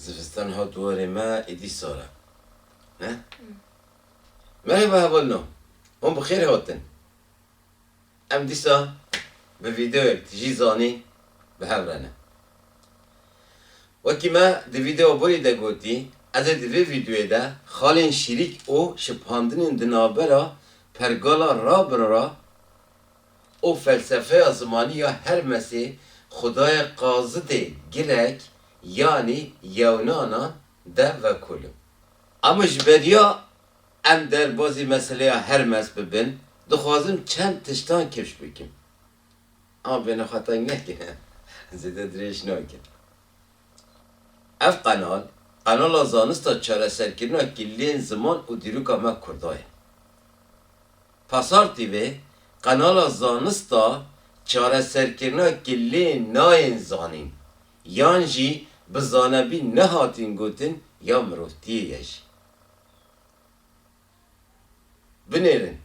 Zivistan hat warê me êdî sar e. Ne? Merhaba hevalino. Hûn bi xêr hatin. Em dîsa bi vîdeoyek tu jî zanî bi hev re ne. Wekî me di vîdeoya borî de gotî, ez ê di vê vîdeoyê de xalên şîrîk û şipandinên di navbera pergala Rabin re Û felsefeya zimanî ya Hermesê xwedayê qazidê girek yanî yewnanan de vekolin. Ama ji beriya em derbazî meseleya Hermes bibin dixwazim çend tiştan kifş bikim. Ama bêhna xwe teng nekin zêde dirêj nakin. Ev qenal, qenala zanista çareserkirina killên ziman û dîroka me kurda ye. Pasar TV, qenala zanista çareserkirina ki lê nayên zanîn, yan jî bi zanebî nehatîn gotin ya mirovtiyê ye jî. Binêrin,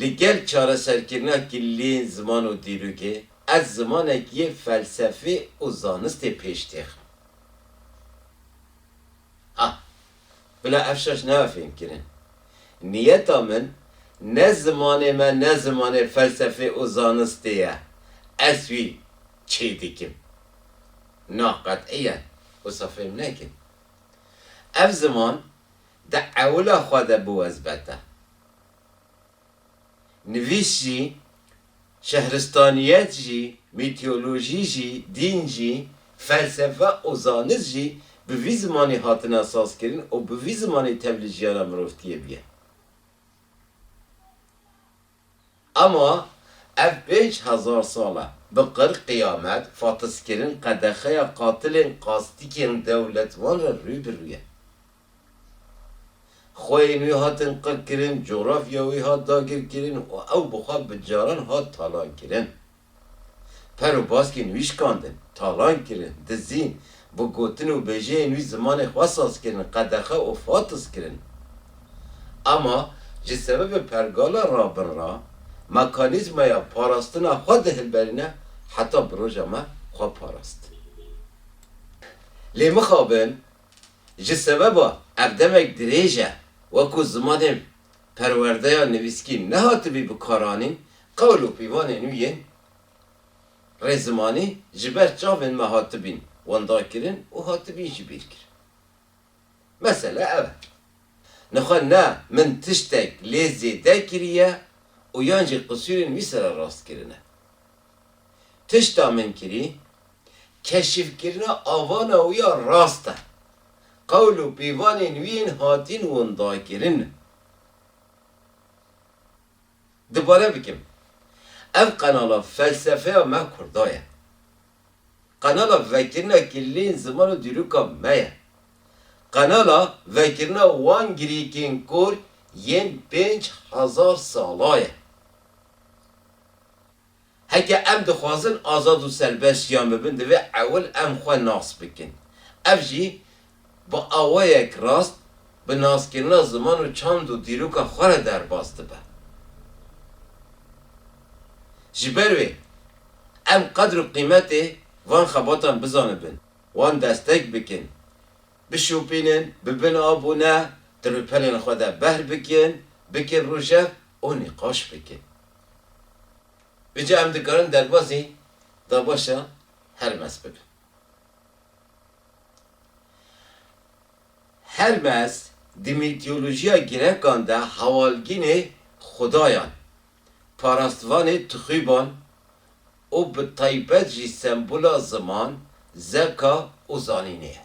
li gel çareserkirina ki lêên ziman û dîrokê, ez zimanekî yê felsefê û zanistê pêş têxim. A. Bila ev şaş nebe fêmkirin. Niyeta min ne zimanê me ne zimanê felsefê û zanistê ye. Ez wî çê dikim. Na qet'iyen wisa fêm nekin. Ev ziman di ewila xwe de biwezbete. Nivîs jî Şehristaniyet jî, mîteolojî jî, dîn jî, felsefe û zanist jî bi vî zimanê hatine sazkirin û bi vî zimanê tev li jiyana mirovtiyê bûye. Ama ev pênc hezar sal e bi qir, qiyamet, fatiskirin, qedexeya qatilên qastikên dewletvan re rû bi rû ye. Xweyên wî hatin qirkirin, cografya wî hat dagirkirin û ew bi xwe bi caran hat talankirin. Per û baskên wî şikandin, talankirin, dizîn, bi gotin û bêjeyên wî zimanê xwe sazkirin, qedexe û fatiz kirin. Ema ji sebebê pergala rabin re mekanîzmaya parastina xwe dihilberîne heta bi roja me xwe parast. Lê mixabin! Ji sebeba ev demek dirêj e we ku zimanên perwerdeya nivîskî nehatibî bikaranîn, qewl û pîvanên nû yên rê zimanî ji ber çavên me hatibîn windakirin û hatibîn jî bîrkirin. Mesele ev e. Nixwe ne min tiştek lê zêde kiriye û yan jî qisûrên wî sererast kirine. Tişta min kirî, keşifkirina avana wî ya rast e. Qewl û pîvanên wî yên hatîn windakirin. Dubare bikim, ev qenala felsefeya me kurda ye. Qenala vekirina kilîleyên ziman û dîroka me ye. Qenala vekirina wan girîkên kor yên pênc hezar sala ye. Heke em dixwazin azad û serbest jiyan bibin divê ewil em xwe nas bikin. Ev jî bi awayek rast bi naskirina ziman û çand û dîroka xwe re derbas dibe. Ji ber wê em qedr û qîmetê van xebatan bizanibin, wan destek bikin, bişopînin, bibin abûne, di rûpelên xwe de behr bikin, bikin rojev û nîqaş bikin. Îca em dikarin derbazî dabaşa Hermes bikin. Hermes di mîtîyolojîya Grêkan de hewalgînê xwedayan, parastvanê tixûban û bi taybet jî sembola ziman, zeka û zanînê ye.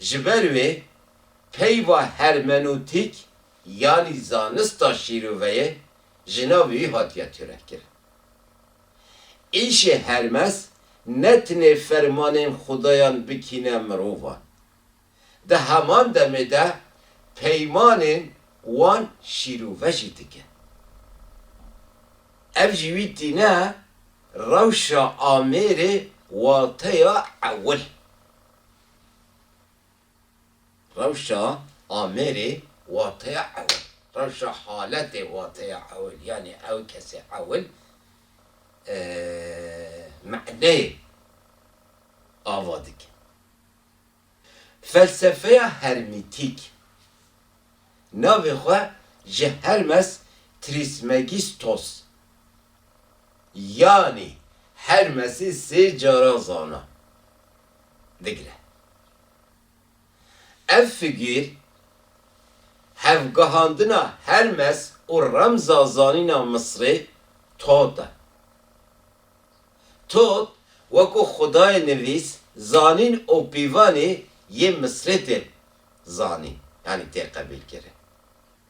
Ji ber wê peyva hermenûtîk yanî zanista şîroveyê ji navê wî hatiye tûrevkirin. Îşê Hermes ne tenê fermanên xudayan bikîne mirovan. Di heman demê de peymanên wan şîrove jî dikin. Ev ji wî tîne rewşa amêrê wateya ewil. Rewşa amêrê wateya ewil. Rewşa haletê wateya ewil yanî ew kesê ewil maneyê ava dike. Felsefeya hermîtîk navê xwe ji Hermes Trismegistos Yanî her mesî sê caran zana digre. Ev figîr hevgihandina Hermes û remza zanîna Misrê Tot e. Tot wekû xwedayê nivîs, zanîn û pîvanê yê Misrê tê zanîn yanî tê qebîlkirin.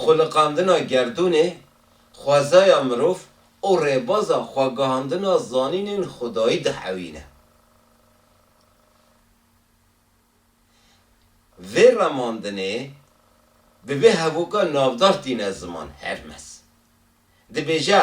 Xwiliqandina gerdûnê, xwezaya mirov û rêbaza xwegihandina zanînên xwedayî dihewîne. Vê remandinê bi vê hevoka navdar tîne ziman, Hermes dibêje,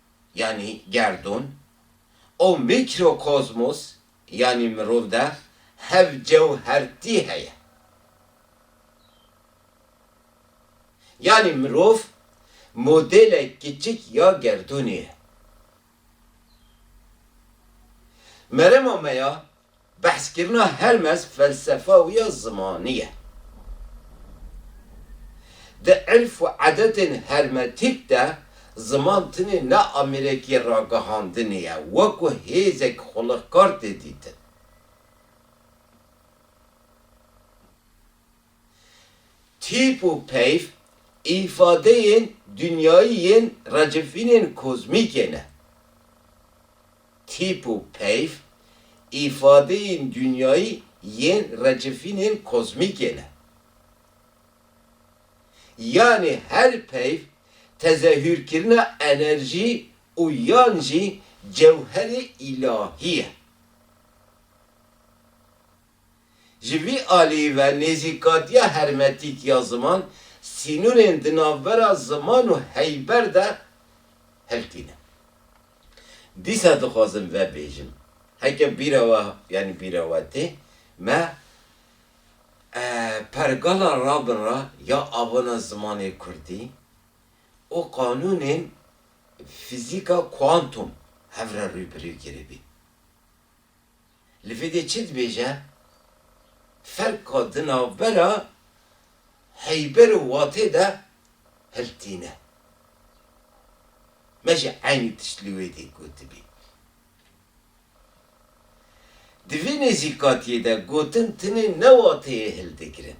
yanî gerdûn, û mîkrokozmos yanî mirov de hev cewhertî heye. Yanî mirov modêle kiçik ya gerdûnê ye. Merema me ya Behskirina Hermes felsefa wî ya zimanî ye. Di irf û edetên hermetîk de ziman tenê ne amireke ragihandinê ye, wekû hêzek xulixkar tê dîtin. Tîp û peyv îfadeyên dinyayî yên racifînên kozmîkê ne. Tîp û peyv îfadeyên dinyayî yên racifînên kozmîkê ne. Yanî her peyv tezehûrkirina enerjî û yan jî cewherê îlahî ye. Ji vî alî ve nêzîkatiya hermetîk ya ziman sînorên di navbera ziman û heyber de hiltîne. Dîsa dixwazim vebêjim, heke bîra we yanî bîra we tê, me pergala rabin re ya avana zimanê kurdî û qanûnên fîzîka kuantum hev re rû bi rû kiribî. Li vê dê çi dibêje? Ferka di navbera heyber û watê de hilt tîne. Me jî eynî tişt li wê dê gotibî. Di vê nêzîkatiyê de gotin tinê ne wateyê hildigirin.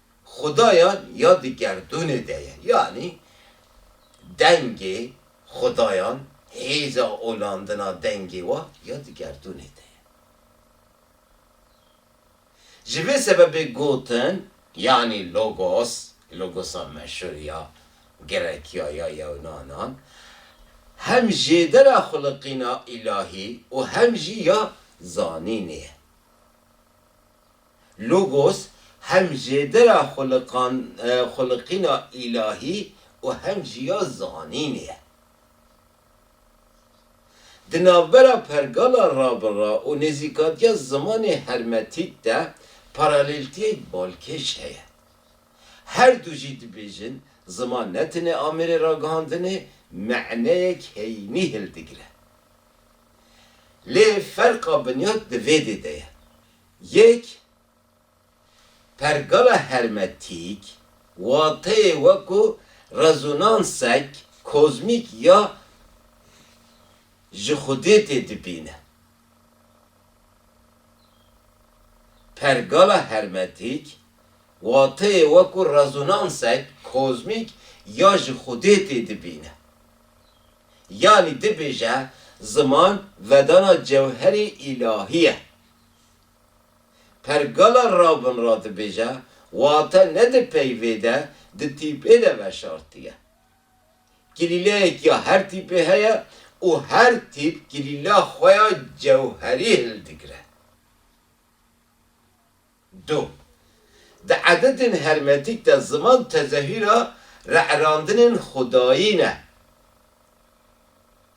xudayan ya di gerdûnê de ye, yanî dengê xudayan, hêza olandina dengê wan ya di gerdûnê de ye. Ji vê sebebê gotin, yanî Logos, Logosa meşhûr ya Grekiya ya Yewnanan, hem jêdera xwiliqîna îlahî û hem jî ya zanînê ye. Logos hem jêdira xwiliqan, xwiliqîna îlahî û hem jî ya zanînê ye. Di navbera pergala rabira û nêzîkatiya zimanê hermetîk de paraleltiyek balkêş heye. Her du jî dibêjin ziman ne tenê amêrê ragihandinê, meneyek heyînî hildigire. Lê ferqa binyat di vêdê de ye. Yek, Pergala hermetîk, wateyê weko rezonansek kozmîk ya ji xwedê tê dibîne. Pergala hermetîk, wateyê weko rezonansek kozmîk ya ji xwedê tê dibîne. Yanî dibêje ziman vedana cewherî îlahî ye. Pergala rabin ra dibêje wate ne di peyvê de di tîpê de veşartiye. Kilîleyek ya her tîpê heye û her tîp kilîla xwe ya cewherî hildigire. Du. Di ededên hermetîk de ziman tezehîra re'randinên xwedayî ne.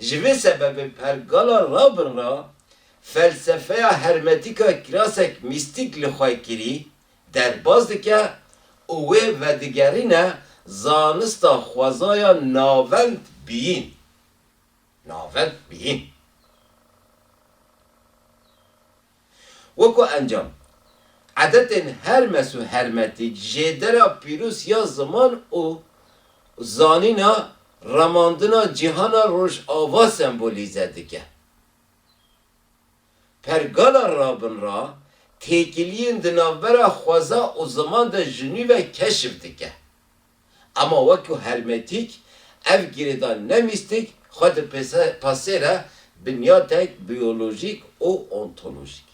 Ji vê sebebê pergala Rabin re felsefeya hermetîk a kirasek mîstîk li xwe kirî derbas dike û wê vedigerîne zanista xwezaya navend biyîn. Navend biyîn. Weko encam, edetên Hermes û Hermetik, Jêdera Pîrûs ya Ziman û Zanîna remandina cîhana rojava sembolîze dike. Pergala Rabin ra têkiliyên di navbera xweza û ziman de ji nû ve keşif dike. Ema wekî hermetîk ev girêdan ne mîstik xwe di pasê re binyatek biyolojîk û ontolojîk.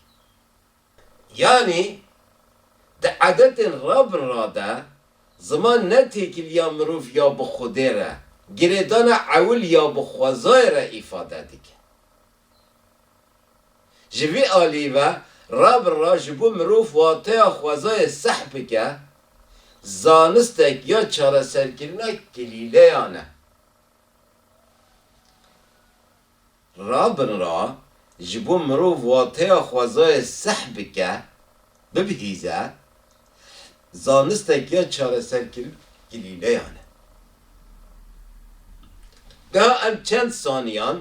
Yanî di edetên ra bi ra de ziman ne têkiliya mirov ya bi xwedê re, girêdana ewil ya bi xwezayê re îfade dike. Ji vî alî ve ra bi ra ji bo mirov wateya xwezayê seh bike, zanistek ya çareserkirina kilîleyan e. Ra bi ra ji bo mirov wateya xwezayê seh bike, bibihîze, zanistek ya çareserkirina kilîleyan e. Geha em çend saniyan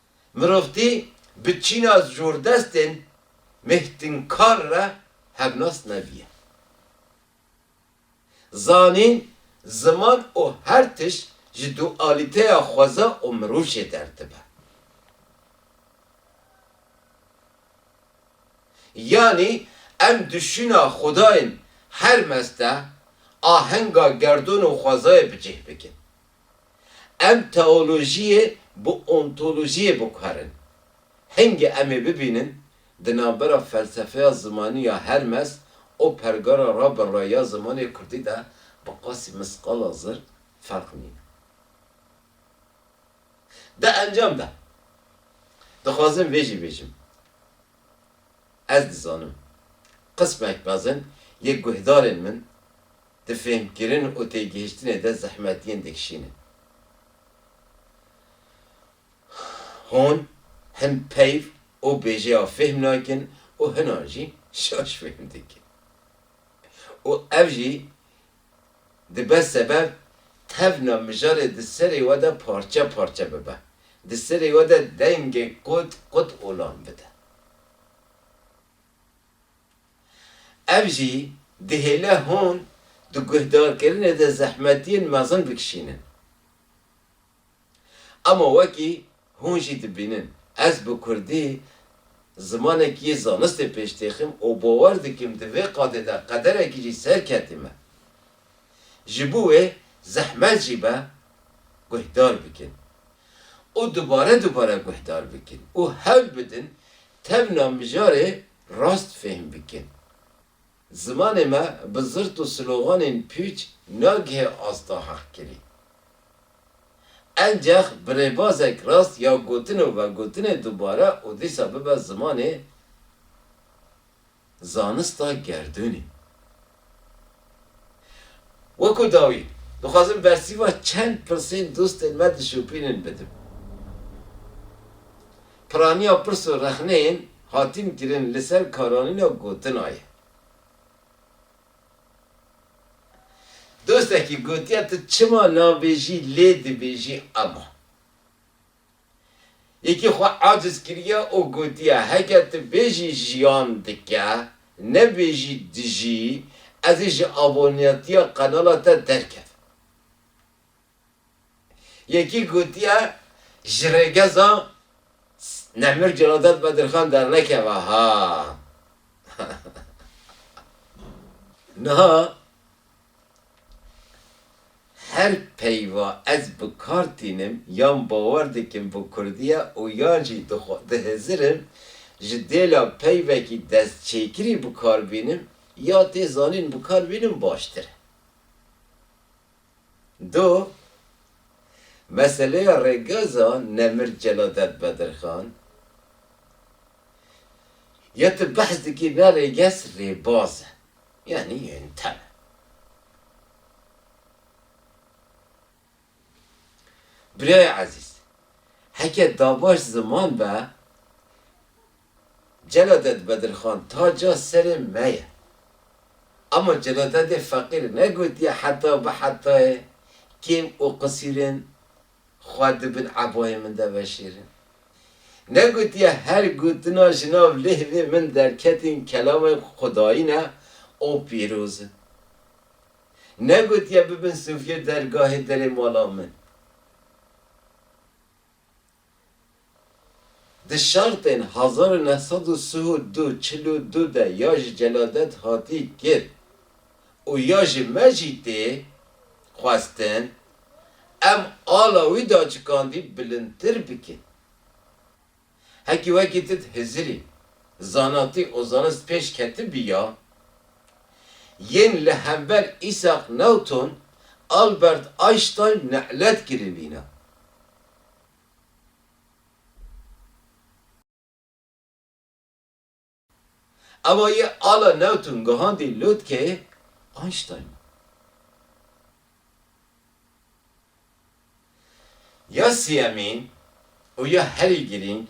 Mirovtî bi çîna zordestên mêhtinkar re hevnas nebîye. Zanîn, ziman û her tişt ji dualîteya xweza û mirûşê derdibe. Yanî em di şûna xwedayên her mezde ahenga gerdon û xwezayê bi cih bikin. Em teolojiyê bi ontolojiyê biguherin. Hingê em ê bibînin di navbera felsefeya zimanî ya Hermes û pergala Rabelray ya zimanê kurdî de bi qasî misqala zir ferq nîne. Di encam de dixwazim vê jî bêjim, Ez dizanim qismek mezin yê guhdarên min Di fêhmkirin û têgihiştinê de zehmet yên dikişînin. Hûn hin peyv û bêjeya fêhm nakin û hinan jî şaş fêhm dikin. Û ev jî dibe sebeb tevna mijarê di serê we de parçe parçe bibe, di serê we de dengê qut qut olan bide. Ev jî dihêle hûn di guhdarkirinê de zehmetiyên mezin bikişînin. Ama wekî hûn jî dibînin, ez bi kurdî zimanekî yê zanistê pêş têxim û bawer dikim di vê qadê de qederekî jî serketî me. Ji bo wê zehmet jî be guhdar bikin û dubare dubare guhdar bikin û hewl bidin tevna mijarê Rast fêhm bikin. Zimanê me bi zirt û sloganên pûç nagihe asta heqkirî. Encex bi rêbazek rast ya gotin û vegotinê dubare û dîsa bibe zimanê zanista gerdûnê. Wekû dawî, dixwazim bersîva çend pirsên dostên me dişopînin bidim. Piraniya pirs û rexneyên hatîn kirin li ser karanîna gotina ye. Dostekî gotiye tu çima nabêjî lê dibêjî ema. Yekî xwe aciz kiriye û gotiye, Heke tu bêjî jiyan dike, nebêjî dijî, ez ê ji aboneyatiya qenala te derkevim. Yekî gotiye, Ji rêgeza Nemir Celadet Bedirxan dernekeve ha! Niha Her peyva ez bi kar tînim yan bawer dikim bi Kurdiya û yan jî dihizirim ji dêla peyvekî destçêkirî bi kar bînim ya tê zanîn bi kar bînim baştir e. Do meseleya rêgeza Nemir Celadet Bedirxan ya tu behs dikî ne rêgez rêbaz e. Yanî yên te me. Birayê ezîz, heke davaş ziman be, Celadet Bedirxan taca serê me ye. Ama Celadetê feqîr negotiye heta bi hetayê kêm û qisîrên Xwe di bin ebayên min de veşêrin. Ne gotiye her gotina ji nav lihvê min derketên kelamên xwedayî ne û pîroz in. Ne gotiye bibin sofiyê dergahê derê mala min. Di şertên hezar û neh sed û sih û du, çil û du de ya ji celadet hatî kir û ya ji me jî tê xwestin em ala wî daçikandî bilindtir bikin. Hekî wekî tit Hizirî, zanatî û zanist pêş ketibî ya, yên li hember Îsaq Newton, Albert Einstein ne'let kiribîne. Ava yê ala Newton gihandî lotkeyê Einstein. Ya siyemîn û ya herî girîng,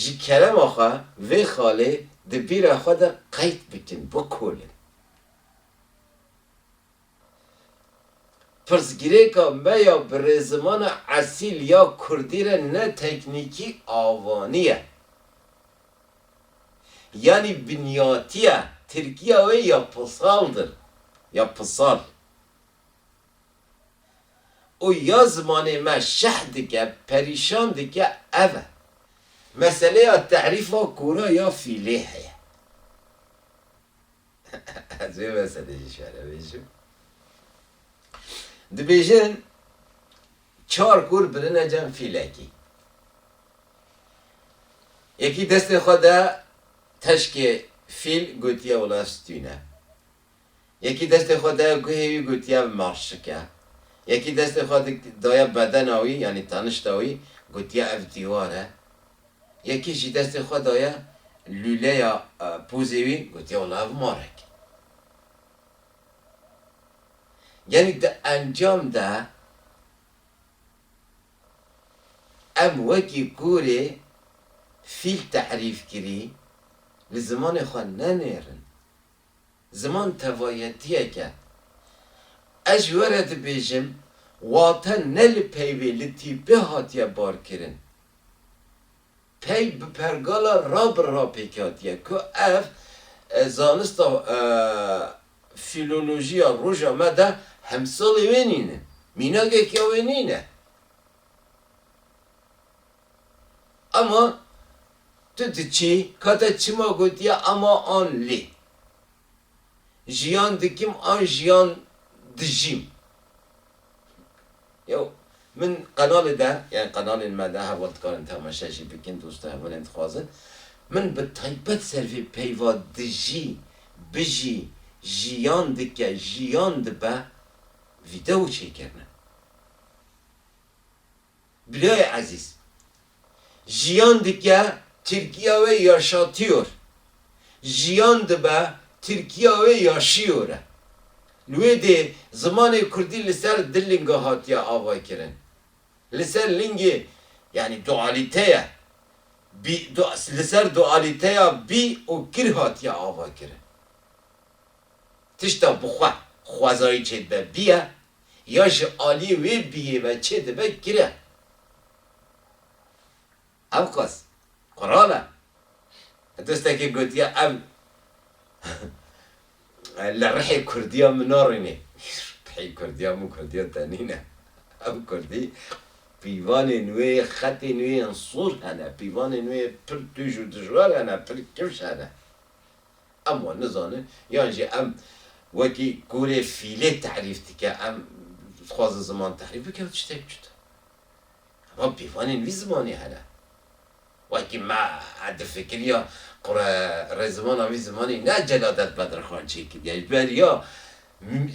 ji kerema xwe vê xalê di bîra xwe de qeyd bikin, bikolin. Pirsgirêka me ya bi rêzimana esîl ya kurdî re ne teknîkî avanî ye. Yanî binyatiya tirkîya wê ya pisald in, ya pisal. Û ya zimanê me şeh dike, perîşan dike ev e. Meseleya terîfa kûra ya fîlê heye. Ez vê meselê jî şere bêjim. Dibêjin çar kûr birine cem fîlekî. Yekî destê xwe da teşkê fîl gotiya wila stûne. Yekî destê xwe daya guhê wî gotiya marşike. Yekî destê xwe daya bedena wî yanî tanişta wî gotiya ev dîwar e. Yekî jî destê xwe daye lûleya pozê wî, gotiye wala ev marek e. Yanî di encam de em wekî gorê fîl terîf kirî li zimanê xwe nenêrin. Ziman tevayetiyek e. Ez ji we re dibêjim wate ne li peyvê, li tîpê hatiye barkirin. Pey bi pergala Rabr re pêk hatiye ku ev zanista fîlolojiya roja me de hemsalê wê nîne, mînagek ya wê nîne. Ema tu diçî, ka te çima gotiye ema an lê. Jiyan dikim an jiyan dijîm. Yew min qenalê de yan qenalên me de heval dikarin temaşe jî bikin dosto hevalên dixwazin min bi taybet ser vê peyva dijî, bijî, jiyan dike, jiyan dibe video çêkirine. Biloyê Ezîz, Jiyan dike Tirkiya wê yaşatîyor. Jiyan dibe Tirkiya wê yaşîyor e. Li wê dê zimanê kurdî li ser du linga hatiye avaykirin. Li ser lingê yanî dualîteye bî li ser dualîteya bî û kir hatiye avakirin. Tişta bi xwe xwezayî çêdibe bî ye ya ji aliyê wê biyê ve çê dibe gire. Ev qas qural e. Dostekê gotiye ev li rihê kurdiya min narînê. Rihê kurdiya min kurdiya te nîne. Ev kurdî pîvanên wê, xetên wê yên sor hene, pîvanên wê pir tûj û dijwar hene, pir kifş hene. Em wan nizanin yan jî em wekî kûrê fîlê terîf dike em dixwazin ziman terîf bike ew tiştek cuda ye. Hema pîvanên vî zimanê hene. Wekî me difikiriya qure rê zimana vî zimanê ne Celadet Bedirxan çêkiriye ji ber ya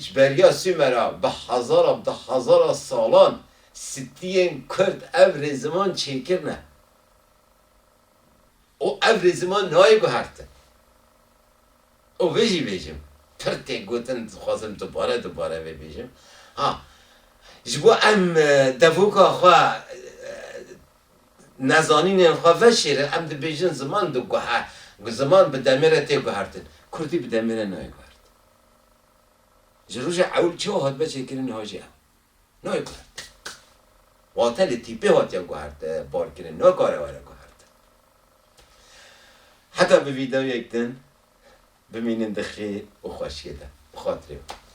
ji ber ya Sumera bi hezara bi de hezara salan sitiyên kurd ev rê ziman çêkirine. û ev rê ziman nayê guhertin. Û vê jî bêjim, pir tê gotin dixwazim dubare dubare vê bêjim, ha ji bo em devoka xwe nezanînên xwe veşêrin em dibêjin ziman diguhe ziman bi demê re tê guhertin. Kurdî bi demê re nayê guhertin. Ji roja ewil çawa hatbe çêkirin niha jî ew. Nayê guhertin. Wate li tîpê hatiye guhertin, barkirin nakare were guhertin. Heta bi vîdeoyek din bimînin di xêr û xweşiyê de. Bi xatirê wî.